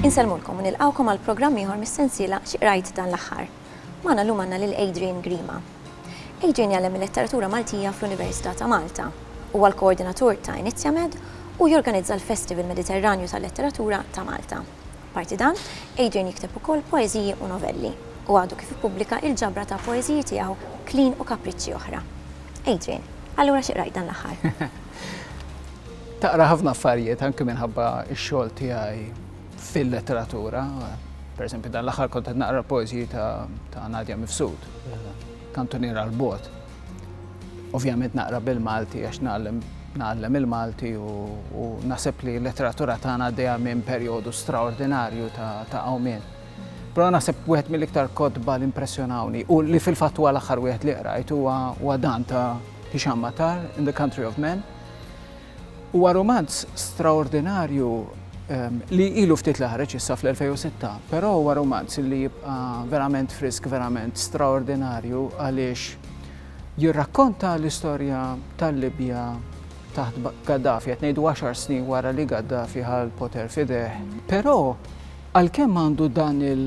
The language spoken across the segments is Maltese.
Insellmulkom u nilqgħukom għal programm ieħor mis-sensiela Xi Qrajt Dan l-Aħħar. Magħna llum għandna lil Adrian Grima. Adrian jgħallem il-Letteratura Maltija fl-Università ta' Malta. Huwa l-koordinatur ta' Inizjamed u jorganizza l-Festival Mediterranju tal-Letteratura ta' Malta. Apparti dan, Adrian jikteb ukoll poeżiji u novelli, u għadu kif ippubblika il-ġabra ta' poeżiji tiegħu Klin u Kapriċċi Oħra. Adrian, allura xi qrajt dan l-aħħar? Taqra ħafna affarijiet anke minħabba x-xogħol tiegħi fil-letteratura. Pereżempju, dan l-aħħar kont qed naqra l-poeżiji ta' Nadia Mifsud, Kantuniera 'l Bogħod. Ovvjament naqra bil-Malti għax nagħlem nagħallem il-Malti u, u naħseb li l-letteratura tagħna għaddejja minn perjodu straordinarju ta', ta għawmien. Però naħseb wieħed mill-iktar kotba li impressjonawni u li fil-fatt huwa l-aħħar wieħed li qrajt huwa dan ta' Hisham Matar in the Country of Men Huwa rumanz straordinarju li ilu ftit li ħareġ issa fl-2006, però huwa rumanz li jibqa' verament frisk, verament straordinarju għaliex jirrakkonta l-istorja tal-Libja taħt Gaddafi, qed ngħidu għaxar snin wara li Gaddafi ħal poter fideh. Però għalkemm għandu dan il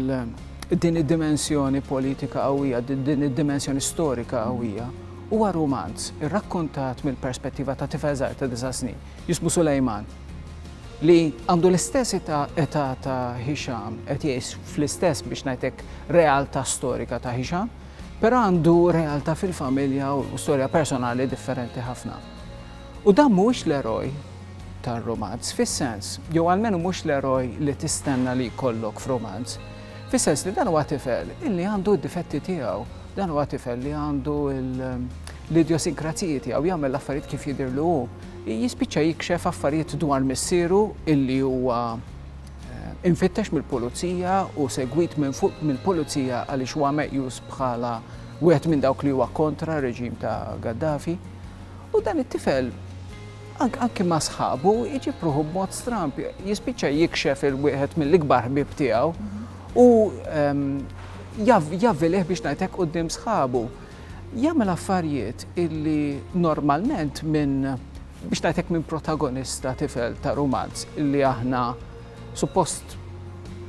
din id-dimensjoni politika qawwija, din id-dimensjoni storika qawwija, Huwa rumanz irrakkontat mill-perspettiva ta' tifel żgħir ta' disa' snin jismu Sulejman li għandu l-istess età età ta' Hisham, qed jgħix fl-istess biex ngħidlek realtà storika ta' Hisham, però għandu realtà fil-familja u storja personali differenti ħafna. U dan mhuwiex l-eroj tar-rumanz fis-sens, jew almenu mhux l-eroj li tistenna li jkollok f'rumanz. Fis-sens li dan huwa tifel illi għandu d-difetti tiegħu, dan huwa tifel li għandu l-idjosinkrazziji tiegħu jagħmel l-affarijiet kif jidhirlu hu. Jispiċċa jikxef affarijiet dwar missieru illi huwa eh, infittex mill-pulizija u segwit minn fuq mill-pulizija għaliex huwa meqjus bħala wieħed minn dawk li huwa kontra reġim ta' Gaddafi. U dan it-tifel Anki ma' sħabu jġib ruħu b'mod stramb, jispiċċa jikxef il-wieħed mill-ikbar ħbieb tiegħu u ehm, javvilih biex ngħidlek quddiem sħabu. Jagħmel affarijiet illi normalment minn biex ngħidlek minn protagonista tifel ta' rumanz illi aħna suppost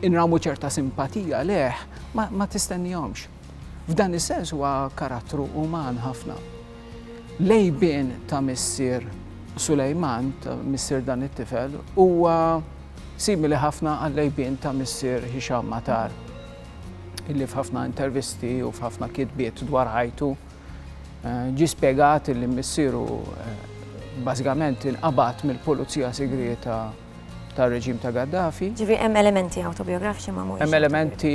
inramu ċerta simpatija leħ ma tistennihomx. F'dan is-sens huwa karattru uman ħafna. L-għejbien ta' missier Sulejman, ta' missier dan it-tifel, huwa simili ħafna għall-għejbien ta' missier Hisham Matar, illi f'ħafna intervisti u f'ħafna kitbiet dwar ħajtu ġie spjegat illi missieru bażikament inqabad mill-pulizija sigrieta tar-reġim ta' Gaddafi. Ġifieri hemm elementi awtobijografiċi ma mhumiex. Hemm elementi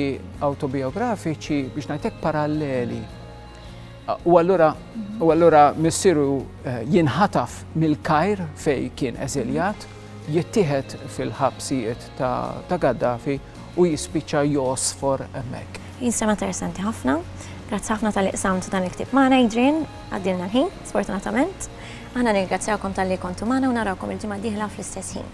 awtobijografiċi biex ngħidlek paralleli. U allura u allura missieru eh, jinħataf mill-Kajr fej kien eżiljat, jittieħed fil-ħabsijiet ta' Gaddafi u jispiċċa josfor hemmhekk. Jinsema interessanti ħafna. Grazzi ħafna tal-iqsamt dan il-ktib magħna Adrian, għaddilna l-ħin, sfortunatament. Aħna nirgrazzjawkom tal-li kontu magħna u narawkom il-ġimgħa diħla fl-istess ħin.